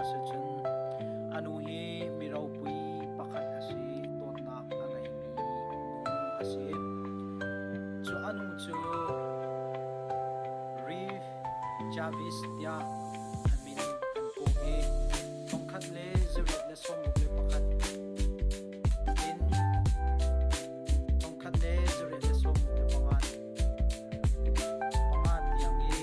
ahcun a nu hi mi ropui pakhat a si dawtnak a ngeimi a si cu a nu cu Reeve Jarvis tiah an min an pu i thongkhat le zarih le sawmruk le pakhat in thongkhat le zarih le sawmruk le pangan pangan tiang i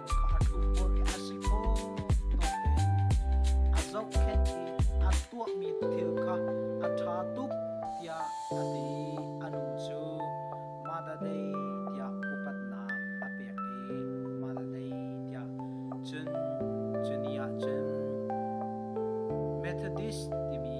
ka hatu puai a si phawtawk in a zohkhenh i a tuahmi thil kha a ṭha tuk tiah a ti a nu cu Mother Day tiah upatnak a pek i Mother Day tiah cun cu ni ah cun Methodist timi